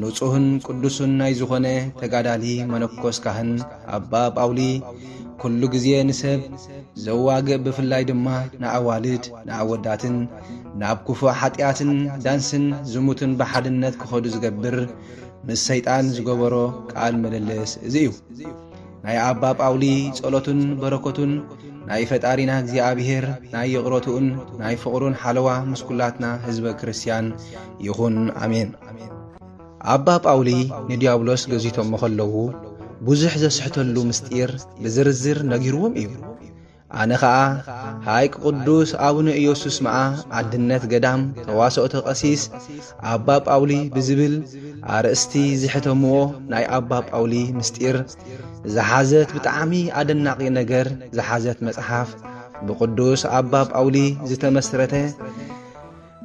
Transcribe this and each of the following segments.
ንጹህን ቅዱስን ናይ ዝኾነ ተጋዳሊ መነኮስ ካህን ኣባ ጳውሊ ኩሉ ግዜ ንሰብ ዘዋግእ ብፍላይ ድማ ንኣዋልድ ንኣወዳትን ናብ ክፉእ ሓጢኣትን ዳንስን ዝሙትን ብሓድነት ክኸዱ ዝገብር ምስ ሰይጣን ዝገበሮ ቃል ምልልስ እዚ እዩ። ናይ ኣባ ጳውሊ ጸሎትን በረከቱን ናይ ፈጣሪና እግዚኣብሔር ናይ ይቕረትኡን ናይ ፍቕሩን ሓለዋ ምስ ኩላትና ህዝበ ክርስትያን ይኹን ኣሜን። ኣባ ጳውሊ ንዲያብሎስ ገዚቶሞ ኸለዉ ብዙሕ ዘስሕተሉ ምስጢር ብዝርዝር ነጊርዎም እዩ። ኣነ ኸኣ ሃይቅ ቅዱስ ኣቡነ ኢየሱስ መኣ ኣድነት ገዳም ተዋሰኦተ ቀሲስ ኣባ ጳውሊ ብዝብል ኣርእስቲ ዝሕተምዎ ናይ ኣባ ጳውሊ ምስጢር ዝሓዘት ብጣዕሚ ኣደናቂ ነገር ዝሓዘት መጽሓፍ ብቅዱስ ኣባ ጳውሊ ዝተመስረተ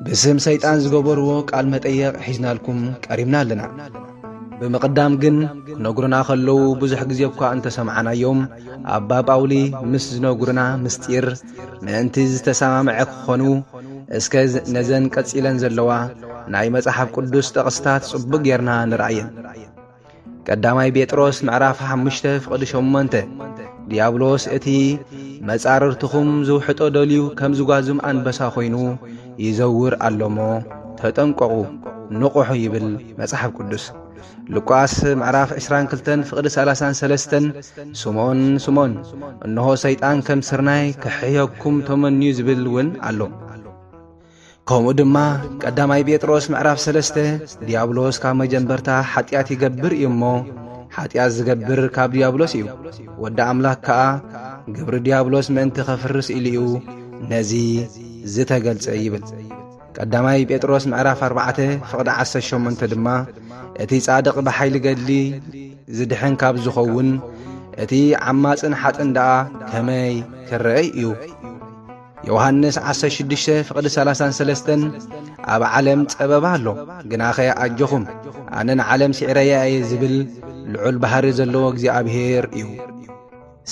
ብስም ሰይጣን ዝገበርዎ ቃል መጠየቕ ሒዝናልኩም ቀሪብና ኣለና። ብምቕዳም ግን ክነግሩና ከለዉ ብዙሕ ግዜ እኳ እንተሰምዓናዮም ኣባ ጳውሊ ምስ ዝነግሩና ምስጢር ምእንቲ ዝተሰማምዐ ክኾኑ እስከ ነዘን ቀጺለን ዘለዋ ናይ መጽሓፍ ቅዱስ ጠቕስታት ጽቡቕ ጌርና ንርኣየን። ቀዳማይ ጴጥሮስ ምዕራፍ ሓሙሽተ ፍቕዲ ሸሞንተ ዲያብሎስ እቲ መጻርርትኹም ዝውሕጦ ደልዩ ከም ዝጓዝም ኣንበሳ ኾይኑ ይዘውር ኣሎሞ ተጠንቀቑ ንቑሑ ይብል መጽሓፍ ቅዱስ። ሉቃስ ምዕራፍ 22 ፍቕዲ 33 ስምዖን ስምዖን እንሆ ሰይጣን ከም ስርናይ ክሕየኩም ተመንዩ ዝብል እውን ኣሎ። ከምኡ ድማ ቀዳማይ ጴጥሮስ ምዕራፍ ሰለስተ ድያብሎስ ካብ መጀመርታ ሓጢኣት ይገብር እዩ እሞ ሓጢኣት ዝገብር ካብ ድያብሎስ እዩ ወዲ ኣምላኽ ከኣ ግብሪ ድያብሎስ ምእንቲ ኸፍርስ ኢሉ እዩ ነዚ ዝተገልጸ ይብል ቀዳማይ ጴጥሮስ ምዕራፍ ኣርባዕተ ፍቕዲ ዓሰርተ ሸሞንተ ድማ እቲ ጻድቕ ብሓይሊ ገድሊ ዝድሕን ካብ ዝኸውን እቲ ዓማጽን ሓጥን ደኣ ከመይ ክረአይ እዩ ዮሃንስ ዓሰርተ ሽዱሽተ ፍቕዲ ሰላሳን ሰለስተን ኣብ ዓለም ጸበባ ኣሎ ግናኸ ኣጆኹም ኣነ ንዓለም ስዒረያ እየ ዝብል ልዑል ባህሪ ዘለዎ እግዚኣብሔር እዩ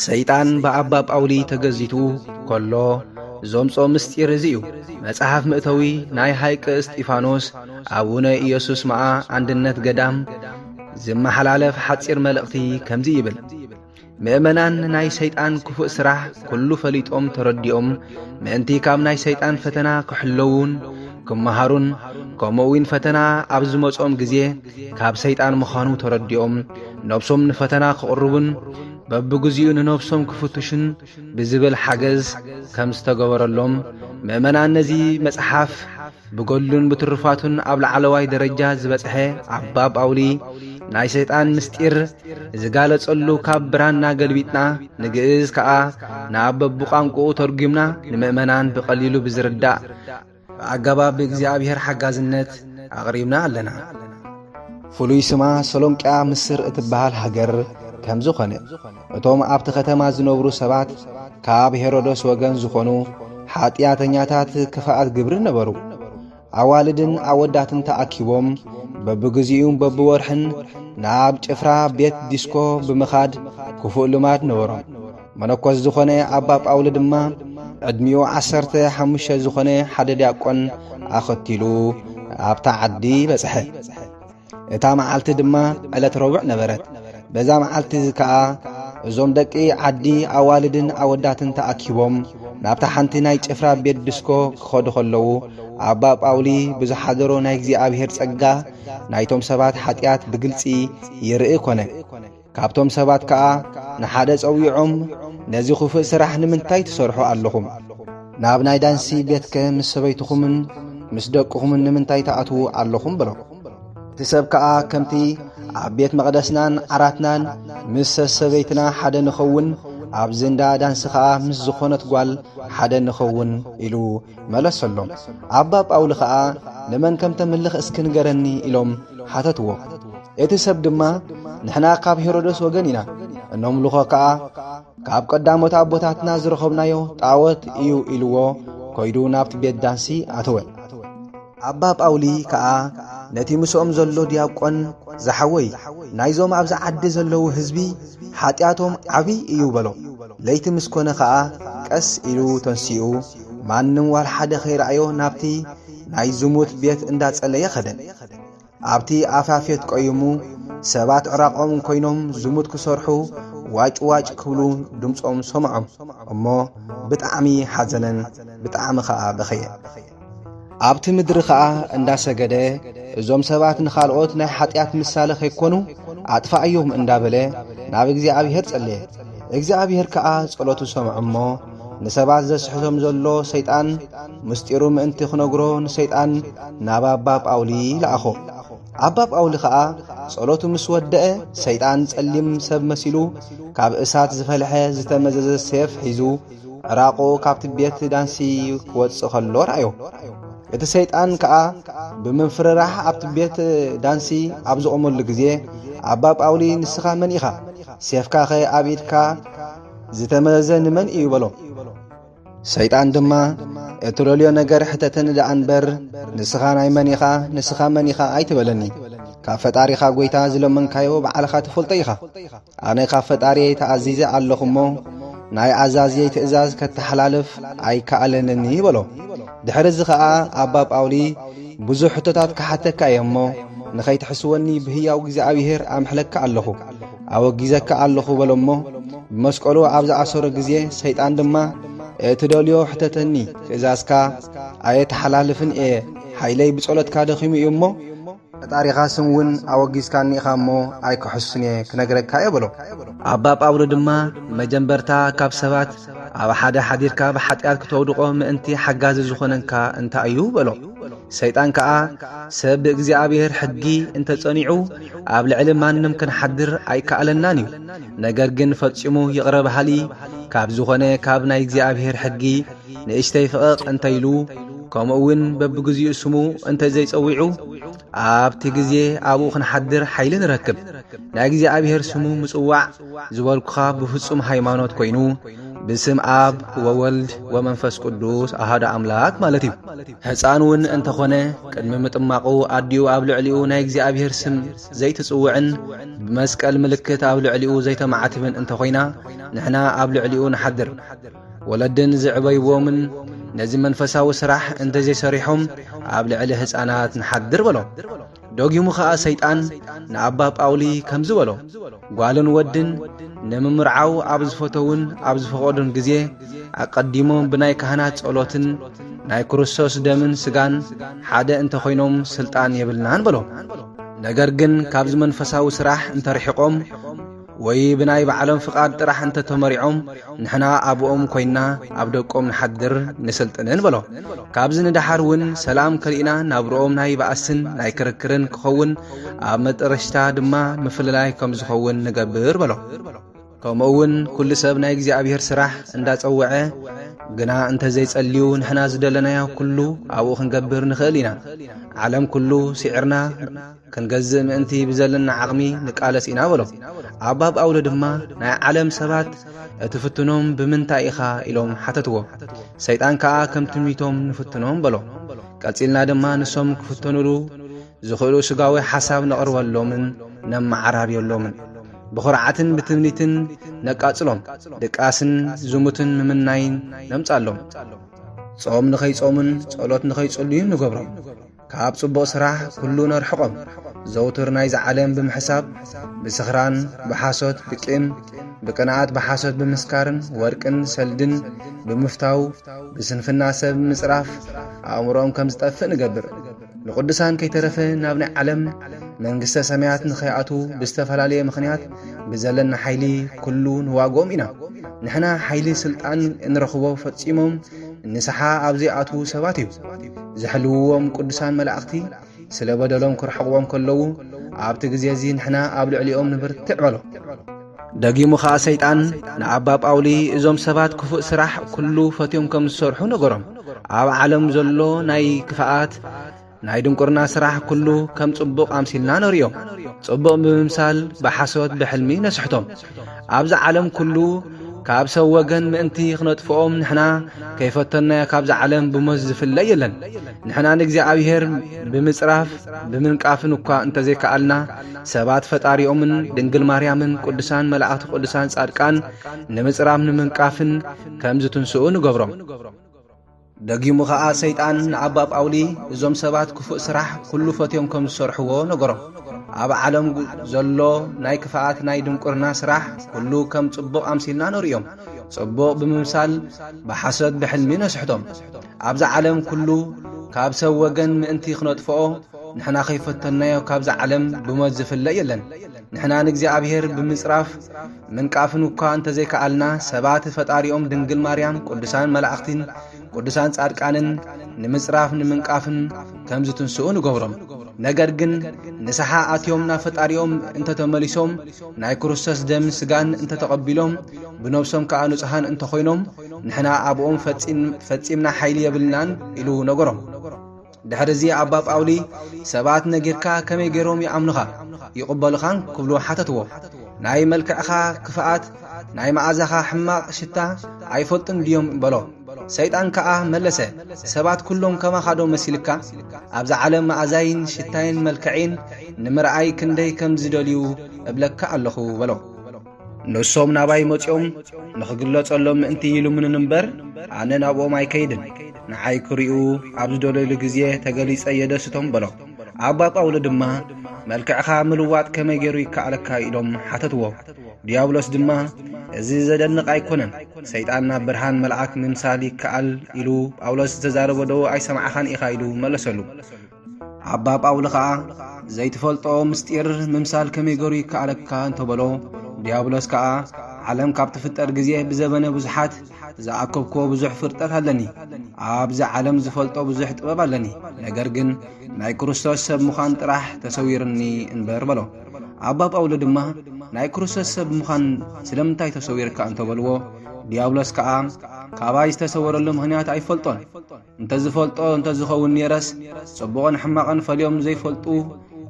ሰይጣን ብኣባ ጳውሊ ተገዚቱ ከሎ ዞምጾ ምስጢር እዚ እዩ መጽሓፍ ምእተዊ ናይ ሃይቀ እስጢፋኖስ ኣቡነ ኢየሱስ መዓ ኣንድነት ገዳም ዝመሓላለፍ ሓጺር መልእኽቲ ከምዚ ይብል ምእመናን ናይ ሰይጣን ክፉእ ስራሕ ኩሉ ፈሊጦም ተረዲኦም ምእንቲ ካብ ናይ ሰይጣን ፈተና ክሕለዉን ክመሃሩን ከምኡ እውን ፈተና ኣብ ዝመጾም ግዜ ካብ ሰይጣን ምዃኑ ተረዲኦም ነብሶም ንፈተና ክቕርቡን በብግዚኡ ንነብሶም ክፍትሹን ብዝብል ሓገዝ ከም ዝተገበረሎም ምእመናን ነዚ መጽሓፍ ብገድሉን ብትሩፋቱን ኣብ ላዕለዋይ ደረጃ ዝበጽሐ ኣባ ጳውሊ ናይ ሰይጣን ምስጢር ዝጋለጸሉ ካብ ብራና ገልቢጥና ንግእዝ ከኣ ናብ በብቋንቁኡ ተርጒምና ንምእመናን ብቐሊሉ ብዝርዳእ ብኣገባብ ብእግዚኣብሔር ሓጋዝነት ኣቕሪብና ኣለና። ፍሉይ ስማ ሰሎንቅያ ምስር እትበሃል ሃገር ከም ዝኾነ እቶም ኣብቲ ኸተማ ዝነብሩ ሰባት ካብ ሄሮዶስ ወገን ዝኾኑ ሓጢኣተኛታት ክፍኣት ግብሪ ነበሩ። ኣዋልድን ኣወዳትን ተኣኪቦም በብግዚኡን በብወርሕን ናብ ጭፍራ ቤት ዲስኮ ብምኻድ ክፉእ ልማድ ነበሮም። መነኮስ ዝኾነ ኣባ ጳውሊ ድማ ዕድሚኡ ዓሰርተ ሓሙሽተ ዝኾነ ሓደ ዲያቆን ኣኸቲሉ ኣብታ ዓዲ በጽሐ። እታ መዓልቲ ድማ ዕለት ረቡዕ ነበረት በዛ መዓልቲ እዚ ከኣ እዞም ደቂ ዓዲ ኣዋልድን ኣወዳትን ተኣኪቦም ናብታ ሓንቲ ናይ ጭፍራ ቤት ድስኮ ክኸዱ ኸለዉ ኣባ ጳውሊ ብዝሓደሮ ናይ እግዚኣብሔር ጸጋ ናይቶም ሰባት ሓጢኣት ብግልጺ ይርኢ ኮነ ካብቶም ሰባት ከኣ ንሓደ ጸዊዖም ነዚ ኹፍእ ስራሕ ንምንታይ ትሰርሑ ኣለኹም? ናብ ናይ ዳንሲ ቤትከ ምስ ሰበይትኹምን ምስ ደቅኹምን ንምንታይ ትኣትዉ ኣለኹም? በሎ። እቲ ሰብ ከኣ ከምቲ ኣብ ቤት መቕደስናን ዓራትናን ምስ ሰሰበይትና ሓደ ንኸውን ኣብዚ እንዳ ዳንሲ ኸኣ ምስ ዝኾነት ጓል ሓደ ንኸውን ኢሉ መለሰሎም። ኣባ ጳውሊ ኸኣ ንመን ከም ተምልኽ እስኪ ንገረኒ ኢሎም ሓተትዎ። እቲ ሰብ ድማ ንሕና ካብ ሄሮደስ ወገን ኢና እነምልኾ ከኣ ካብ ቀዳሞት ኣቦታትና ዝረኸብናዮ ጣወት እዩ ኢልዎ ኮይዱ ናብቲ ቤት ዳንሲ ኣተወ ኣባ ጳውሊ ከኣ ነቲ ምስኦም ዘሎ ዲያቆን ዝሓወይ ናይዞም ኣብዚ ዓዲ ዘለዉ ህዝቢ ሓጢኣቶም ዓብዪ እዩ በሎ ለይቲ ምስ ኮነ ኸኣ ቀስ ኢሉ ተንሲኡ ማንም ዋል ሓደ ኸይረኣዮ ናብቲ ናይ ዝሙት ቤት እንዳጸለየ ኸደ ኣብቲ ኣፋፌት ቆይሙ ሰባት ዕራቖም ኮይኖም ዝሙት ክሰርሑ ዋጭ ዋጭ ክብሉ ድምፆም ሰምዖም እሞ ብጣዕሚ ሓዘነን ብጣዕሚ ኸዓ በኸየ። ኣብቲ ምድሪ ኸዓ እንዳሰገደ እዞም ሰባት ንኻልኦት ናይ ሓጢኣት ምሳለ ከይኮኑ ኣጥፋኣዮም እንዳበለ ናብ እግዚኣብሔር ጸለየ። እግዚኣብሔር ከዓ ጸሎቱ ሰምዖ እሞ ንሰባት ዘስሕቶም ዘሎ ሰይጣን ምስጢሩ ምእንቲ ክነግሮ ንሰይጣን ናብ ኣባ ጳውሊ ለኣኾ። ኣባ ጳውሊ ኸኣ ጸሎቱ ምስ ወደአ ሰይጣን ጸሊም ሰብ መሲሉ ካብ እሳት ዝፈልሐ ዝተመዘዘ ሴፍ ሒዙ ዕራቑ ካብቲ ቤት ዳንሲ ክወጽእ ከሎ ረኣዮ። እቲ ሰይጣን ከኣ ብምፍርራሕ ኣብቲ ቤት ዳንሲ ኣብ ዝቖመሉ ግዜ ኣባ ጳውሊ ንስኻ መን ኢኻ? ሴፍካኸ ኣብ ኢድካ ዝተመዘዘ ንመን እዩ በሎ። ሰይጣን ድማ እትደልዮ ነገር ሕተተኒ ደኣ እንበር ንስኻ ናይ መን ኢኻ ንስኻ መን ኢኻ ኣይትበለኒ ካብ ፈጣሪኻ ጐይታ ዝለመንካዮ ባዕልኻ ትፈልጦ ኢኻ ኣነ ካብ ፈጣሪየይ ተኣዚዘ ኣለኹ እሞ ናይ ኣዛዝየይ ትእዛዝ ከተሓላልፍ ኣይከኣለንኒ በሎ ድሕሪ እዚ ኸኣ ኣባ ጳውሊ ብዙሕ ሕቶታት ክሓተካ እየ እሞ ንኸይትሕስወኒ ብህያው እግዚኣብሔር ኣምሕለካ ኣለኹ ኣወጊዘካ ኣለኹ በሎ እሞ ብመስቀሉ ኣብ ዝኣሰሮ ግዜ ሰይጣን ድማ እትደልዮ ሕተተኒ ትእዛዝካ ኣየተሓላልፍን እየ ሓይለይ ብጸሎትካ ደኺሙ እዩ እሞ ፈጣሪኻ ስም እውን ኣወጊዝካኒ ኢኻ እሞ ኣይክሕሱን እየ ክነግረካ እየ በሎ ኣባ ጳውሎ ድማ መጀንበርታ ካብ ሰባት ኣብ ሓደ ሓዲርካ ብሓጢኣት ክተውድቖ ምእንቲ ሓጋዚ ዝኾነንካ እንታይ እዩ በሎ ሰይጣን ከኣ ሰብ ብእግዚኣብሔር ሕጊ እንተጸኒዑ ኣብ ልዕሊ ማንም ክንሓድር ኣይከኣለናን እዩ። ነገር ግን ፈጺሙ ይቕረ በሃሊ ካብ ዝኾነ ካብ ናይ እግዚኣብሔር ሕጊ ንእሽተይ ፍቕቕ እንተ ኢሉ ከምኡውን በብግዚኡ ስሙ እንተ ዘይጸዊዑ ኣብቲ ግዜ ኣብኡ ክንሓድር ሓይሊ ንረክብ። ናይ እግዚኣብሔር ስሙ ምጽዋዕ ዝበልኩኻ ብፍጹም ሃይማኖት ኮይኑ ብስም ኣብ ወወልድ ወመንፈስ ቅዱስ ኣሃዶ ኣምላክ ማለት እዩ። ሕፃን እውን እንተኾነ ቅድሚ ምጥማቑ ኣዲኡ ኣብ ልዕሊኡ ናይ እግዚኣብሔር ስም ዘይትጽውዕን ብመስቀል ምልክት ኣብ ልዕሊኡ ዘይተማዕትብን እንተኾይና ንሕና ኣብ ልዕሊኡ ንሓድር። ወለድን ዝዕበይዎምን ነዚ መንፈሳዊ ስራሕ እንተዘይሰሪሖም ኣብ ልዕሊ ህፃናት ንሓድር በሎም። ደጊሙ ኸኣ ሰይጣን ንኣባ ጳውሊ ከምዚ በሎ ጓልን ወድን ንምምርዓው ኣብ ዝፈተውን ኣብ ዝፈቐዱን ግዜ ኣቐዲሞም ብናይ ካህናት ጸሎትን ናይ ክርስቶስ ደምን ስጋን ሓደ እንተ ዀይኖም ስልጣን የብልናን በሎ ነገር ግን ካብዚ መንፈሳዊ ስራሕ እንተርሒቖም ወይ ብናይ ባዕሎም ፍቓድ ጥራሕ እንተ ተመሪዖም ንሕና ኣብኦም ኮይንና ኣብ ደቆም ንሓድር ንስልጥንን በሎ። ካብዚ ንደሓር እውን ሰላም ከሊእና ናብርኦም ናይ ባእስን ናይ ክርክርን ክኸውን ኣብ መጠረሽታ ድማ ምፍልላይ ከም ዝኸውን ንገብር በሎ። ከምኡ እውን ኩሉ ሰብ ናይ እግዚኣብሔር ስራሕ እንዳጸወዐ ግና እንተ ዘይጸልዩ ንሕና ዝደለናዮ ኩሉ ኣብኡ ክንገብር ንኽእል ኢና። ዓለም ኩሉ ስዒርና ክንገዝእ ምእንቲ ብዘለና ዓቕሚ ንቃለስ ኢና በሎ። ኣባ ጳውሎ ድማ ናይ ዓለም ሰባት እትፍትኖም ብምንታይ ኢኻ ኢሎም ሓተትዎ። ሰይጣን ከኣ ከም ትምኒቶም ንፍትኖም በሎ። ቀጺልና ድማ ንሶም ክፍተኑሉ ዝኽእሉ ስጋዊ ሓሳብ ነቕርበሎምን ነመዓራርየሎምን። ብኹርዓትን ብትምኒትን ነቃጽሎም፣ ድቃስን ዝሙትን ምምናይን ነምጻሎም፣ ጾም ንኸይጾሙን ጸሎት ንኸይጽልዩን ንገብሮም። ካብ ጽቡቕ ስራሕ ኩሉ ነርሕቖም ዘውትር ናይዚ ዓለም ብምሕሳብ ብስኽራን ብሓሶት ብቂም ብቅንኣት ብሓሶት ብምስካርን ወርቅን ሰልድን ብምፍታው ብስንፍና ሰብ ምጽራፍ ኣእምሮኦም ከም ዝጠፍእ ንገብር ንቕዱሳን ከይተረፈ ናብ ናይ ዓለም መንግስተ ሰማያት ንኸይኣትዉ ብዝተፈላለየ ምኽንያት ብዘለና ሓይሊ ኩሉ ንዋግኦም ኢና ንሕና ሓይሊ ስልጣን እንረኽቦ ፈጺሞም ንስሓ ኣብ ዘይኣትዉ ሰባት እዩ ዝሕልውዎም ቅዱሳን መላእኽቲ ስለ በደሎም ክርሕቕዎም ከለዉ ኣብቲ ግዜ እዚ ንሕና ኣብ ልዕሊኦም ንብርትዕ በሎ ደጊሙ ኸዓ ሰይጣን ንኣባ ጳውሊ እዞም ሰባት ክፉእ ስራሕ ኩሉ ፈትዮም ከም ዝሰርሑ ነገሮም ኣብ ዓለም ዘሎ ናይ ክፍኣት ናይ ድንቁርና ስራሕ ኩሉ ከም ጽቡቕ ኣምሲልና ነርእዮም ጽቡቕ ብምምሳል ብሓሶት ብሕልሚ ነስሕቶም ኣብዚ ዓለም ኩሉ ካብ ሰብ ወገን ምእንቲ ኽነጥፍኦም ንሕና ከይፈተናዮ ካብዚ ዓለም ብሞት ዝፍለ የለን ንሕና ንእግዚኣብሔር ብምጽራፍ ብምንቃፍን እኳ እንተዘይከኣልና ሰባት ፈጣሪኦምን ድንግል ማርያምን ቅዱሳን መላእኽቲ ቅዱሳን ጻድቃን ንምጽራፍ ንምንቃፍን ከም ዝትንስኡ ንገብሮም ደጊሙ ኸኣ ሰይጣን ንኣባ ጳውሊ እዞም ሰባት ክፉእ ስራሕ ኵሉ ፈትዮም ከም ዝሰርሕዎ ነገሮ። ኣብ ዓለም ዘሎ ናይ ክፍኣት ናይ ድንቁርና ስራሕ ኵሉ ከም ጽቡቕ ኣምሲልና ነርእዮም። ጽቡቕ ብምምሳል ብሓሶት ብሕልሚ ነስሕቶም። ኣብዚ ዓለም ኵሉ ካብ ሰብ ወገን ምእንቲ ክነጥፍኦ ንሕና ከይፈተንናዮ ካብዚ ዓለም ብሞት ዝፍለ የለን። ንሕና ንእግዚኣብሔር ብምጽራፍ ምንቃፍን እኳ እንተዘይከኣልና ሰባት ፈጣሪኦም ድንግል ማርያም ቅዱሳን መላእኽቲን ቅዱሳን ጻድቃንን ንምጽራፍ ንምንቃፍን ከም ዝትንስኡ ንገብሮም ነገር ግን ንስሓ ኣትዮም ናብ ፈጣሪኦም እንተተመሊሶም ናይ ክርስቶስ ደም ስጋን እንተተቐቢሎም ብነብሶም ከዓ ንጹሃን እንተኾይኖም ንሕና ኣብኦም ፈጺምና ሓይሊ የብልናን ኢሉ ነገሮም ድሕሪ እዚ ኣባ ጳውሊ ሰባት ነጊርካ ከመይ ገይሮም ይኣምኑኻ ይቕበሉኻን ክብሉ ሓተትዎ። ናይ መልክዕኻ ክፍኣት ናይ መዓዛኻ ሕማቕ ሽታ ኣይፈልጡን ድዮም በሎ። ሰይጣን ከኣ መለሰ ሰባት ኩሎም ከማኻ ዶ መሲልካ ኣብዚ ዓለም መኣዛይን ሽታይን መልክዒን ንምርኣይ ክንደይ ከም ዝደልዩ እብለካ ኣለኹ በሎ። ንሶም ናባይ መጺኦም ንኽግለጸሎም ምእንቲ ይልምኑን እምበር ኣነ ናብኦም ኣይከይድን ንዓይ ክርኡ ኣብ ዝደለሉ ግዜ ተገሊጸ የደስቶም በሎ ኣባ ጳውሎ ድማ መልክዕኻ ምልዋጥ ከመይ ገይሩ ይከኣለካ ኢሎም ሓተትዎ ዲያብሎስ ድማ እዚ ዘደንቕ ኣይኮነን ሰይጣን ናብ ብርሃን መልኣክ ምምሳል ይከኣል ኢሉ ጳውሎስ ዝተዛረበ ዶ ኣይሰማዕኻን ኢኻ ኢሉ መለሰሉ ኣባ ጳውሊ ኸኣ ዘይትፈልጦ ምስጢር ምምሳል ከመይ ገሩ ይከኣለካ እንተበሎ ዲያብሎስ ከኣ ዓለም ካብ ትፍጠር ግዜ ብዘበነ ብዙሓት ዝኣከብኮ ብዙሕ ፍርጠት ኣለኒ ኣብዚ ዓለም ዝፈልጦ ብዙሕ ጥበብ ኣለኒ ነገር ግን ናይ ክርስቶስ ሰብ ምዃን ጥራሕ ተሰዊርኒ እንበር በሎ ኣባ ጳውሊ ድማ ናይ ክርስቶስ ሰብ ምዃን ስለምንታይ ተሰዊርካ እንተበልዎ ዲያብሎስ ከኣ ካባይ ዝተሰወረሉ ምኽንያት ኣይፈልጦን እንተዝፈልጦ እንተዝኸውን ነይረስ ጽቡቕን ሕማቕን ፈልዮም ዘይፈልጡ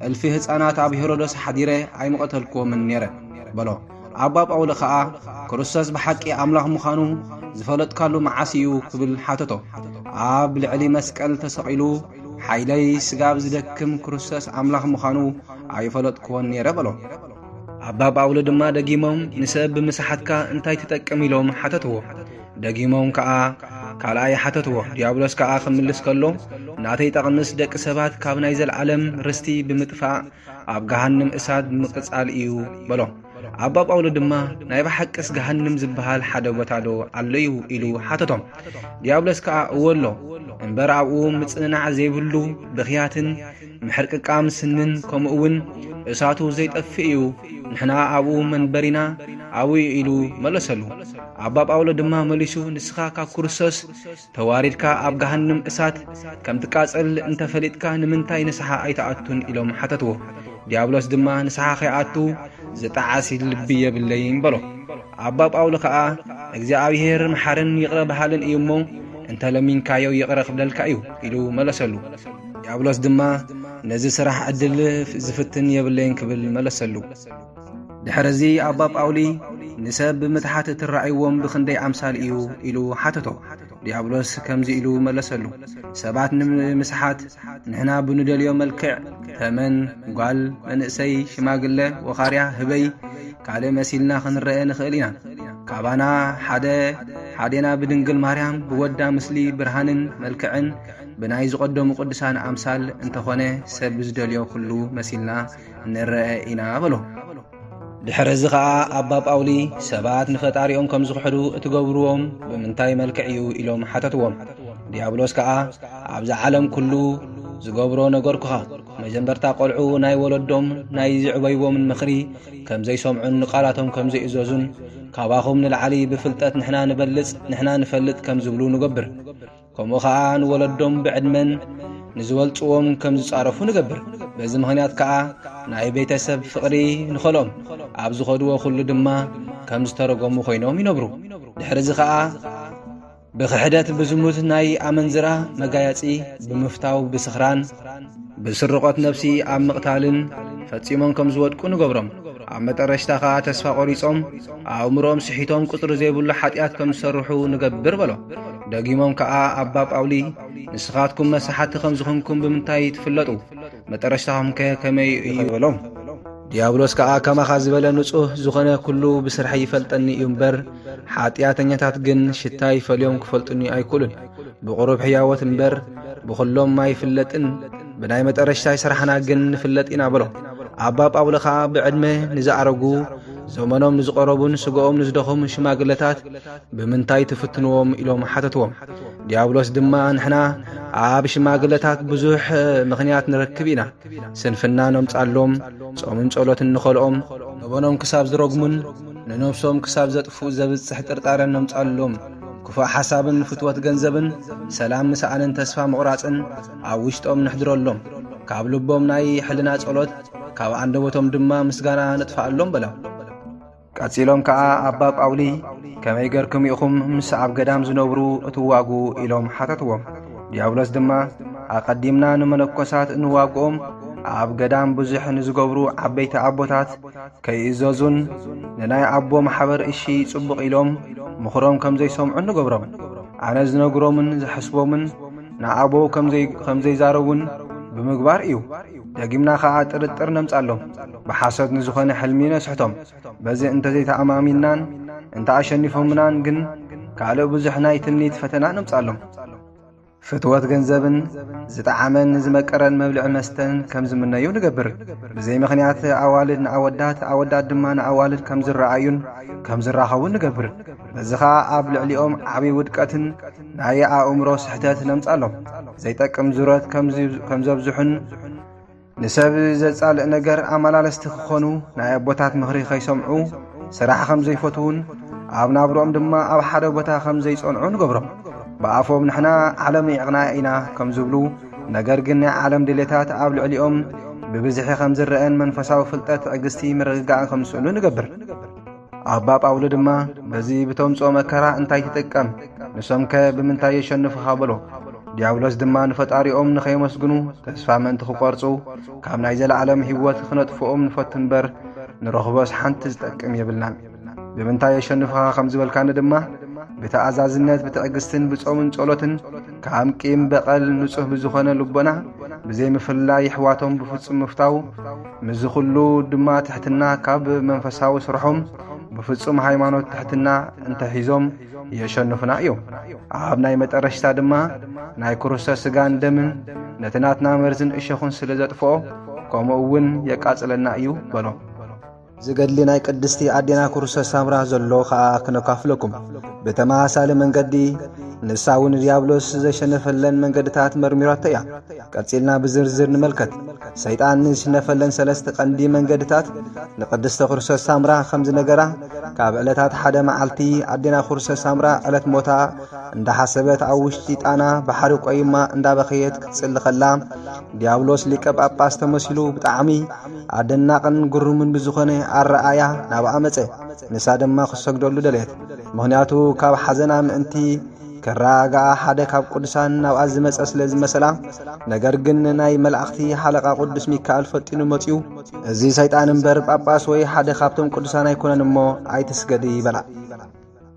እልፊ ህፃናት ኣብ ሄሮዶስ ሓዲረ ኣይምቐተልክዎምን ነይረ በሎ ኣባ ጳውሊ ኸኣ ክርስቶስ ብሓቂ ኣምላኽ ምዃኑ ዝፈለጥካሉ መዓስ እዩ ክብል ሓተቶ ኣብ ልዕሊ መስቀል ተሰቒሉ ሓይለይ ስጋብ ዝደክም ክርስቶስ ኣምላኽ ምዃኑ ኣይፈለጥክዎን ነይረ በሎ ኣባ ጳውሊ ድማ ደጊሞም ንሰብ ብምስሓትካ እንታይ ትጠቅም ኢሎም ሓተትዎ ደጊሞም ከኣ ካልኣይ ሓተትዎ። ዲያብሎስ ከኣ ክምልስ ከሎ ናተይ ጠቕምስ ደቂ ሰባት ካብ ናይ ዘለዓለም ርስቲ ብምጥፋእ ኣብ ገሃንም እሳት ምቅጻል እዩ በሎ። ኣባ ጳውሎ ድማ ናይ ብሓቅስ ገሃንም ዝበሃል ሓደ ቦታ ዶ ኣሎዩ ኢሉ ሓተቶም። ዲያብሎስ ከኣ እወ ኣሎ እምበር ኣብኡ ምጽንናዕ ዘይብሉ ብኽያትን ምሕርቅቃም ስንን ከምኡ እውን እሳቱ ዘይጠፍእ እዩ፣ ንሕና ኣብኡ መንበሪና ኣብኡ እዩ ኢሉ መለሰሉ። ኣባ ጳውሎ ድማ መሊሱ ንስኻ ካብ ክርስቶስ ተዋሪድካ ኣብ ገሃንም እሳት ከም ትቃጸል እንተ ፈሊጥካ ንምንታይ ንስሓ ኣይትኣቱን ኢሎም ሓተትዎ። ዲያብሎስ ድማ ንስሓ ከይኣቱ ዝጠዓሲ ልቢ የብለይን በሎ። ኣባ ጳውሎ ከኣ እግዚኣብሔር መሓርን ይቕረ በሃልን እዩ እሞ እንተ ለሚንካዮ ይቕረ ክብለልካ እዩ ኢሉ መለሰሉ። ዲያብሎስ ድማ ነዚ ስራሕ ዕድል ዝፍትን የብለይን ክብል መለሰሉ። ድሕርዚ ኣባ ጳውሊ ንሰብ ብምትሓት እትረኣይዎም ብኽንደይ ኣምሳል እዩ ኢሉ ሓተቶ። ዲያብሎስ ከምዚ ኢሉ መለሰሉ፣ ሰባት ንምስሓት ንሕና ብንደልዮ መልክዕ፣ ተመን፣ ጓል፣ መንእሰይ፣ ሽማግለ፣ ወኻርያ፣ ህበይ፣ ካልእ መሲልና ክንረኤ ንኽእል ኢና። ካባና ሓደ ሓዴና ብድንግል ማርያም ብወዳ ምስሊ ብርሃንን መልክዕን ብናይ ዝቐደሙ ቅዱሳን ኣምሳል እንተኾነ ሰብ ብዝደልዮ ኩሉ መሲልና ንረአ ኢና በሎ። ድሕሪ እዚ ኸኣ ኣባ ጳውሊ ሰባት ንፈጣሪኦም ከም ዝኽሕዱ እትገብርዎም ብምንታይ መልክዕ እዩ ኢሎም ሓተትዎም ዲያብሎስ ከኣ ኣብዚ ዓለም ኩሉ ዝገብሮ ነገርኩኻ መጀመርታ ቈልዑ ናይ ወለዶም ናይ ዝዕበይዎምን ምኽሪ ከም ዘይሰምዑን ንቓላቶም ከም ዘይእዘዙን ካባኹም ንላዕሊ ብፍልጠት ንሕና ንበልጽ ንሕና ንፈልጥ ከም ዝብሉ ንገብር ከምኡ ኸኣ ንወለዶም ብዕድመን ንዝበልጽዎም ከም ዝጻረፉ ንገብር በዚ ምኽንያት ከኣ ናይ ቤተሰብ ፍቕሪ ንኸሎም ኣብ ዝኸድዎ ዅሉ ድማ ከም ዝተረጎሙ ዀይኖም ይነብሩ ድሕርዚ ኸኣ ብኽሕደት ብዝሙት ናይ ኣመንዝራ መጋያጺ ብምፍታው ብስኽራን ብስርቆት ነብሲ ኣብ ምቕታልን ፈጺሞም ከም ዝወድቁ ንገብሮም ኣብ መጠረሽታ ኸኣ ተስፋ ቖሪጾም ኣእምሮኦም ስሒቶም ቁጽሪ ዘይብሉ ሓጢኣት ከም ዝሰርሑ ንገብር በሎ ደጊሞም ከኣ ኣባ ጳውሊ ንስኻትኩም መሳሓቲ ከም ዝኾንኩም ብምንታይ ትፍለጡ መጠረሽታኹም ከ ከመይ እዩ በሎም ዲያብሎስ ከኣ ከማኻ ዝበለ ንጹህ ዝኾነ ኩሉ ብስርሐይ ይፈልጠኒ እዩ እምበር ሓጢኣተኛታት ግን ሽታ ይፈልዮም ክፈልጡኒ ኣይክእሉን ብቑሩብ ሕያዎት እምበር ብዅሎም ኣይፍለጥን፣ ብናይ መጠረሽታይ ስራሕና ግን ንፍለጥ ኢና በሎ። ኣባ ጳውሎ ኸኣ ብዕድመ ንዝኣረጉ ዘመኖም ንዝቐረቡን ስጋኦም ንዝደኸሙ ሽማግለታት ብምንታይ ትፍትንዎም ኢሎም ሓተትዎም። ዲያብሎስ ድማ ንሕና ኣብ ሽማግለታት ብዙሕ ምኽንያት ንረክብ ኢና። ስንፍና ነምጻሎም፣ ጾምን ጸሎትን ንኸልኦም፣ ገበኖም ክሳብ ዝረግሙን ንነብሶም ክሳብ ዘጥፍኡ ዘብጽሕ ጥርጣረ ነምጻሎም። ክፉእ ሓሳብን ፍትወት ገንዘብን ሰላም ምስኣንን ተስፋ ምቑራጽን ኣብ ውሽጦም ንሕድረሎም ካብ ልቦም ናይ ሕልና ጸሎት ካብ ኣንደበቶም ድማ ምስጋና ንጥፍኣሎም በላ ቀጺሎም ከኣ ኣባ ጳውሊ ከመይ ገርኩም ኢኹም ምስ ኣብ ገዳም ዝነብሩ እትዋጉ ኢሎም ሓተትዎም። ዲያብሎስ ድማ ኣቐዲምና ንመነኮሳት እንዋግኦም ኣብ ገዳም ብዙሕ ንዝገብሩ ዓበይቲ ኣቦታት ከይእዘዙን ንናይ ኣቦ ማሕበር እሺ ጽቡቕ ኢሎም ምኽሮም ከም ዘይሰምዑ ንገብሮም ኣነ ዝነግሮምን ዝሐስቦምን ንኣቦ ከም ዘይዛረቡን ብምግባር እዩ ደጊምና ኸኣ ጥርጥር ነምጻሎም ብሓሶት ንዝኾነ ሕልሚ ነስሕቶም በዚ እንተዘይተኣማሚንናን እንተ ኣሸኒፎምናን ግን ካልእ ብዙሕ ናይ ትምኒት ፈተና ነምጻሎም ፍትወት ገንዘብን ዝጠዓመን ዝመቀረን መብልዕ መስተን ከም ዝምነዩ ንገብር ብዘይ ምኽንያት ኣዋልድ ንኣወዳት ኣወዳት ድማ ንኣዋልድ ከም ዝረኣዩን ከም ዝራኸቡን ንገብር በዚ ኸዓ ኣብ ልዕሊኦም ዓብዪ ውድቀትን ናይ ኣእምሮ ስሕተት ነምጻሎም ዘይጠቅም ዙረት ከም ዘብዝሑን ንሰብ ዘጻልእ ነገር ኣመላለስቲ ክኾኑ ናይ ኣቦታት ምኽሪ ከይሰምዑ ስራሕ ከም ዘይፈትዉን ኣብ ናብሮኦም ድማ ኣብ ሓደ ቦታ ከም ዘይጸንዑ ንገብሮም ብኣፎም ንሕና ዓለም ይዕቕና ኢና ከም ዝብሉ ነገር ግን ናይ ዓለም ድሌታት ኣብ ልዕሊኦም ብብዝሒ ከም ዝረአን መንፈሳዊ ፍልጠት ትዕግስቲ ምርግጋእን ከም ዝስእኑ ንገብር ኣባ ጳውሎ ድማ በዚ ብተምጽኦ መከራ እንታይ ትጥቀም ንሶምከ ብምንታይ የሸንፉኻ በሎ ዲያብሎስ ድማ ንፈጣሪኦም ንኸየመስግኑ ተስፋ መንቲ ክቈርጹ ካብ ናይ ዘለዓለም ህይወት ክነጥፍኦም ንፈቱ እምበር ንረኽቦስ ሓንቲ ዝጠቅም የብልናን ብምንታይ የሸንፍኻ ከም ዝበልካኒ ድማ ብተኣዛዝነት ብትዕግስትን ብጾምን ጸሎትን ካብ ቂም በቐል ንጹህ ብዝኾነ ልቦና ብዘይምፍላይ ኣሕዋቶም ብፍጹም ምፍታው ምስዚ ዅሉ ድማ ትሕትና ካብ መንፈሳዊ ስርሖም ብፍጹም ሃይማኖት ትሕትና እንተሒዞም የሸንፉና እዮም ኣብ ናይ መጠረሽታ ድማ ናይ ክርስቶስ ስጋን ደምን ነቲ ናትና መርዝን እሸኹን ስለ ዘጥፍኦ ከምኡ እውን የቃጽለና እዩ በሎ ዝገድሊ ናይ ቅድስቲ ኣዴና ክርስቶስ ሳምራ ዘሎ ኸኣ ክነካፍለኩም ብተመሳሳሊ መንገዲ ንሳ እውን ዲያብሎስ ዘሸነፈለን መንገድታት መርሚራቶ እያ ቀጺልና ብዝርዝር ንመልከት። ሰይጣን ንዝሽነፈለን ሰለስተ ቀንዲ መንገድታት ንቅድስተ ኩርሶስ ሳምራ ከም ዝነገራ ካብ ዕለታት ሓደ መዓልቲ ኣዴና ኩርሶስ ሳምራ ዕለት ሞታ እንዳሓሰበት ኣብ ውሽጢ ጣና ባሕሪ ቆይማ እንዳበኸየት ክትጽሊ ከላ ዲያብሎስ ሊቀ ጳጳስ ተመሲሉ ብጣዕሚ ኣደናቅን ግሩምን ብዝኾነ ኣረኣያ ናብኣ መጸ። ንሳ ድማ ክትሰግደሉ ደለየት። ምክንያቱ ካብ ሓዘና ምእንቲ ከረጋግኣ ሓደ ካብ ቅዱሳን ናብኣ ዝመጸ ስለ ዝመሰላ፣ ነገር ግን ናይ መላእኽቲ ሓለቓ ቅዱስ ሚካኤል ፈጢኑ መጺኡ፣ እዚ ሰይጣን እምበር ጳጳስ ወይ ሓደ ካብቶም ቅዱሳን ኣይኮነን እሞ ኣይትስገዲ በላ።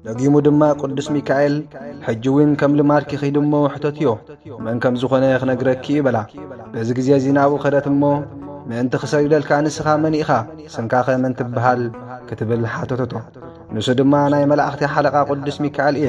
ደጊሙ ድማ ቅዱስ ሚካኤል ሕጂ እውን ከም ልማድኪ ኺድ እሞ ሕተትዮ መን ከም ዝኾነ ክነግረኪ እዩ በላ። በዚ ግዜ እዚ ናብኡ ከደት እሞ ምእንቲ ክሰግደልካ ንስኻ መን ኢኻ ስምካኸ መን ትበሃል ክትብል ሓተተቶ። ንሱ ድማ ናይ መላእኽቲ ሓለቓ ቅዱስ ሚካኤል እየ።